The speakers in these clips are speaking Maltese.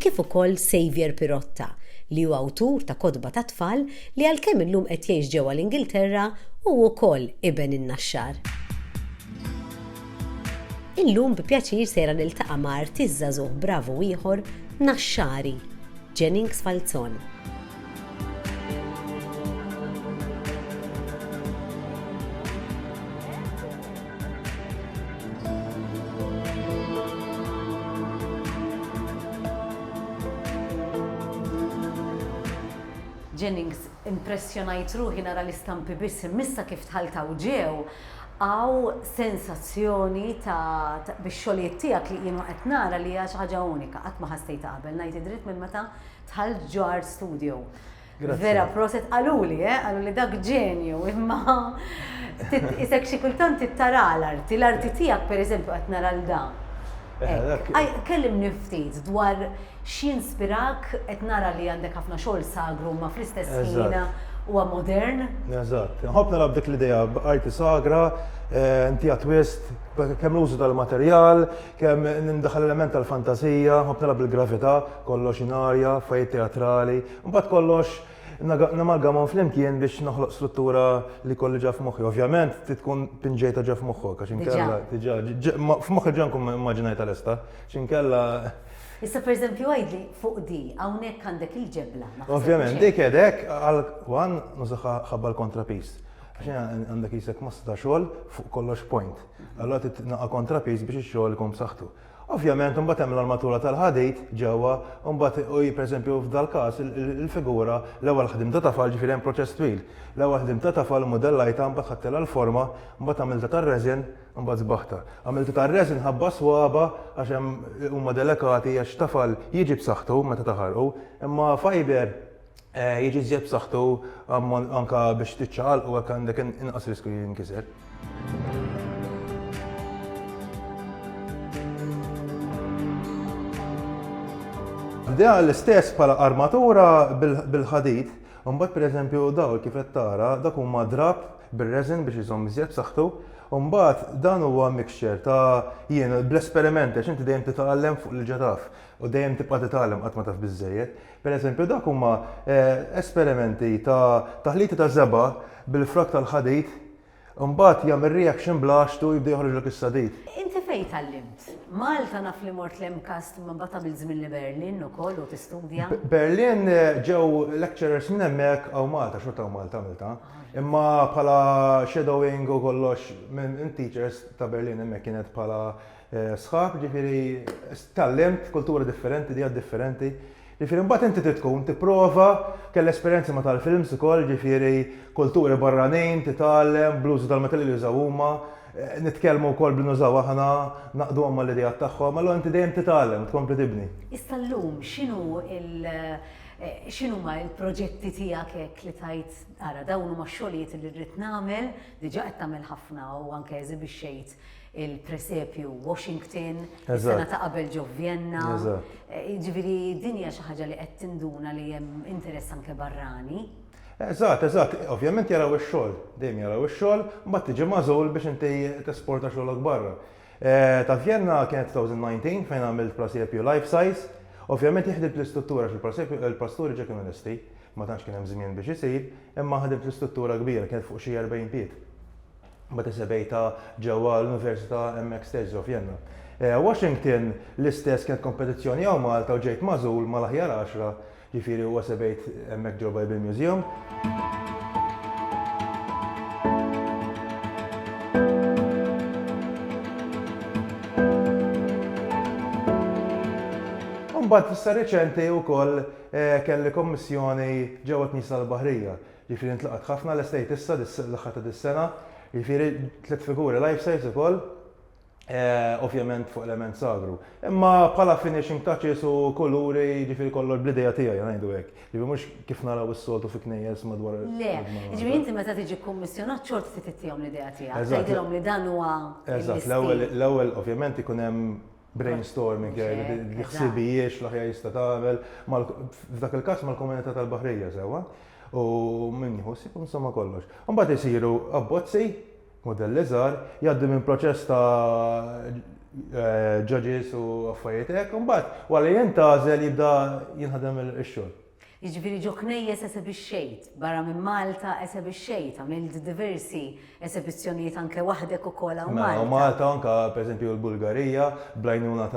kif ukoll Saviour Pirotta, li hu awtur ta' kotba tat-tfal li għalkemm illum qed jgħix ġewwa l-Ingilterra, hu wkoll iben in-Naxxar. Illum bi pjaċir sejra niltaqa' ma' artist żagħżugħ bravu ieħor Naxxari, Jennings Falzon. Jennings, Impressjonajt ruħi nara l-istampi biss imma issa kif dħalt hawn ġew hawn sensazzjoni ta' bix-xogħlijiet tiegħek li kienu qed nara li hija xi ħaġa unika, qatt ma ħassejtha qabel ngħid id-dritt minn meta Tal ġar studio. Vera, proset, għaluli, eh, għaluli dak ġenju, imma isek xi kultant tittara l-arti, l-arti tiegħek pereżempju qed nara l da. Eh, kellim niftit dwar x'jinspirak qed nara li għandek ħafna xogħol sagru ma fl-istess ħin huwa modern. Eżatt. Nħobb nara dik l-idea b'arti sagra, eh, inti twist, kemm l-użu tal-materjal, Kemm nindaħal element tal-fantasija, nħobb nilgħab bil-gravità, kollox ingħarja, affarijiet teatrali, imbagħad kollox namalgamhom flimkien biex noħloq struttura li jkolli ġa f'moħħi. Ovvjament trid tkun pinġejtha ġa f'moħħok għax inkella diġà f'moħħi ġa nkun immaġinajtha lesta għax inkella. Issa pereżempju għidli fuq di, hawnhekk għandek il-ġebla. Ovvjament dik qed hekk għal one nużaha ħabba l-kontrapiż. Għax għandek qisek massa ta' xogħol fuq kollox point. Allura trid tnaqa' kontrapiż biex ix-xogħol ikun b'saħħtu. Ovvjament imbagħad hemm l-armatura tal-ħadid ġewwa u mbagħad u hi pereżempju f'dal-każ il-figura l-ewwel ħdimt ta' tafal ġifieri hemm proċess twil. L-ewwel ħdimt ta' tafal immudellajtha imbagħad ħadtilha l-forma imbagħad għamiltha tar-resin imbagħad sbaħtha. Għamiltha tar-resin ħabba s-swaba' għax hemm huma delikati għax tafal jiġi b'saħħtu meta taħarqu imma fiber jiġi żjed b'saħħtu anke biex tiċċaqalqu hekk għandek inqas riskju li jinkiser. Bdeha l-istess bħala armatura bil-ħadid, u mbagħad pereżempju dawl kif qed tara dak huma drab bir-resin biex iżomm iżjed b'saħħtu, u mbagħad dan huwa mixture ta' jien bl-esperimenti għax inti dejjem titgħallem fuq l-ġa taf u dejjem tibqa' titgħallem qatt ma taf biżżejjed. Pereżempju, dak huma esperimenti ta' taħliti ta' żebgħa bil-frak tal-ħadid, imbagħad jagħmel reaction bl-għaxtu u jibda joħroġlek is-sadid. Inti fejn tgħallimt? Malta naf li mort l-MCAST imma mbagħad għamilt żmien li Berlin ukoll u tistudja. Berlin ġew lecturers minn hemmhekk hawn Malta, xorta hawn Malta għamiltha. Imma bħala shadowing u kollox minn teachers ta' Berlin hemmhekk kienet bħala sħab, jiġifieri tgħallimt kultura differenti, dieta differenti, jiġifieri mbagħad inti trid tkun tipprova, kelli esperjenzi ma' tal-films ukoll, jiġifieri kulturi barranin, titgħallem bl-użu tal-materjali li jużaw huma, nitkellmu wkoll b'li nużaw aħna, naqduhom mal-ideat tagħhom, allura inti dejjem titgħallem u tkompli tibni. Issa llum x'inhu l, x'inhuma l-proġetti tiegħek hekk li tgħid ara dawn huma x-xogħlijiet li rrid nagħmel, diġà qed tagħmel ħafna u anke eżibixxejt il-presepju Washington, is-sena ta' qabel ġo Vjenna. Ġifieri din hija xi ħaġa li qed tinduna li hemm interess anke barrani. Eżatt, eżatt. Ovvjament jaraw ix-xogħol, dejjem jaraw ix-xogħol, mbagħad tiġi magħżul biex inti tesporta xogħlok barra. Ta' Vjenna kienet 2019 fejn għamilt presepju life size. Ovvjament jien ħdimt l-istruttura għax il-presepju, il-pasturi ġo kienu lesti, ma tantx kien hemm żmien biex isir, imma ħdimt l-istruttura kbira, kienet fuq xi 40 pied. Mbagħad isebgħitha ġewwa l-Università hemmhekk stess ġo Vjenna. Washington l-istess kienet kompetizzjoni hawn Malta u ġejt magħżul mal-aħjar għaxra, ġifieri huwa sebgħit hemmhekk ġo Bible Museum. Mbagħad fis-sa riċenti wkoll kelli kommissjoni ġewwa l-Knisja tal-Baħrija. Jiġifieri ntlaqgħet ħafna l-estate issa l-aħħar ta' dis-sena, jiġifieri tliet figuri life size ukoll, ovvjament fuq element sagru. Imma bħala finishing touches u kuluri jiġifieri kollox bl-idea tiegħi ngħidu hekk. Jiġifieri mhux kif naraw is-soltu fi knejjes madwar il-Malta. Le, jiġifieri inti meta tiġi kkummissjonat xorta trid ittihom l-idea tiegħek, tgħidilhom li dan huwa l-istil. Eżatt, l-ewwel ovvjament ikun hemm brainstorming, li ħsibijiex l-aħjar jista' tagħmel, f'dak il-każ mal-komunità tal-baħrija sewwa, u min jieħu sib insomma kollox. Mbagħad isiru abbozzi, modelli żgħar, jgħaddu minn proċess ta' eh, judges u affarijiet hekk, mbagħad wara jintgħażel jibda jinħadem ix-xogħol. Jiġifieri ġo knejjes esebixxejt, barra minn Malta esebixxejt, għamilt diversi esebizzjonijiet anke waħdek ukoll hawn Malta. Mela, Malta u anke pereżempju l-Bulgarija bl-għajnuna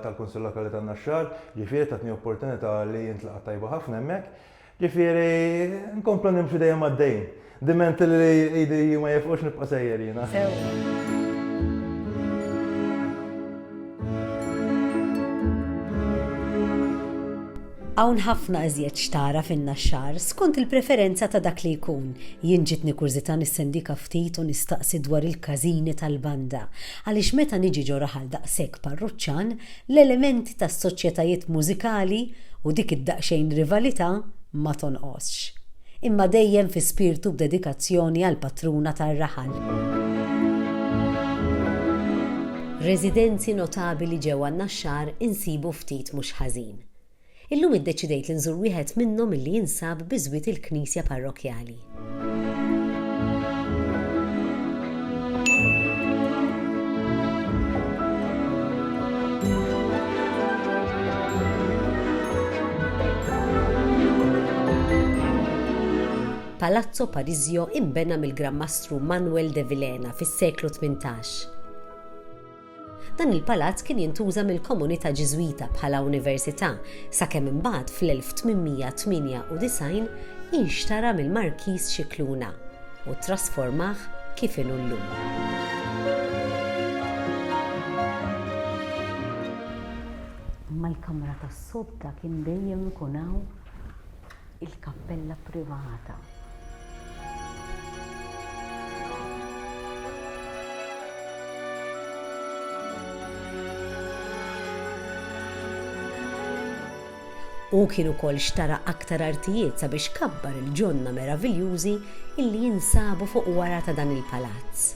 tal-Kunsill Lokali tan-Naxxar, ġifieri tatni opportunità li intlaqat tajba ħafna hemmhekk. Ġifieri nkomplu nimxu dejjem għaddejjin. Diment li idi ma jifqux nibqa' sejjer jiena. Hawn ħafna iżjed x'tara fin-Naxxar, skont il-preferenza ta' dak li jkun. Jien ġietni kurżità nissendika ftit u nistaqsi dwar il-każini tal-banda, għaliex meta niġi ġo raħal daqshekk parruċċan, l-elementi tas-soċjetajiet mużikali u dik id-daqsxejn rivalità ma tonqosx. imma dejjem fi spirtu b'dedikazzjoni għall-patruna tar-raħal. Residenzi notabili ġewwa n-Naxxar insibu ftit mhux ħażin. Illum iddeċidejt li nżur wieħed minnhom illi jinsab biżwiet il-knisja parrokkjali. Palazzo Parisio inbena mill-Gran Mastru Manuel de Vilhena fis-seklu tmintax. Dan il-palazz kien jintuża mill-komunità Ġiżwita bħala università sakemm imbagħad fl-1898 inxtara mill-Markiż Scicluna u ttrasformah kif inhu llum. Imma l-kamra tas-sodda kien dejjem ikun hawn il-kappella privata. Hu kien ukoll xtara aktar artijiet sabiex kabbar il-ġonna meraviljużi illi jinsabu fuq wara ta' dan il-palazz.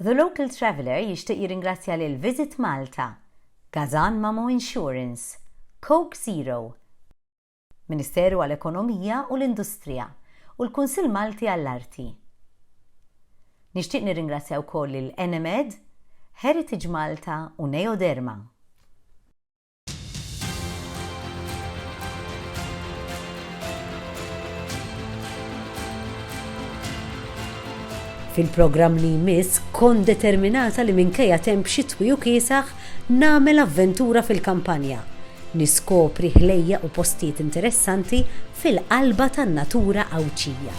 The Local Traveller jixtieq jirringrazzja lil Visit Malta, Gazan Mamo Insurance, Coke Zero, Ministeru għall-Ekonomija u l-Industrija u l-Kunsill Malti għall-Arti. Nixtieq nirringrazzja wkoll lil Enemed, Heritage Malta u Neoderma. Fil-programm li jmiss kont determinata li minkejja temp xitwi u kiesaħ nagħmel avventura fil-kampanja, niskopri ħlejjaq u postijiet interessanti fil-qalba tan-natura Għawdxija.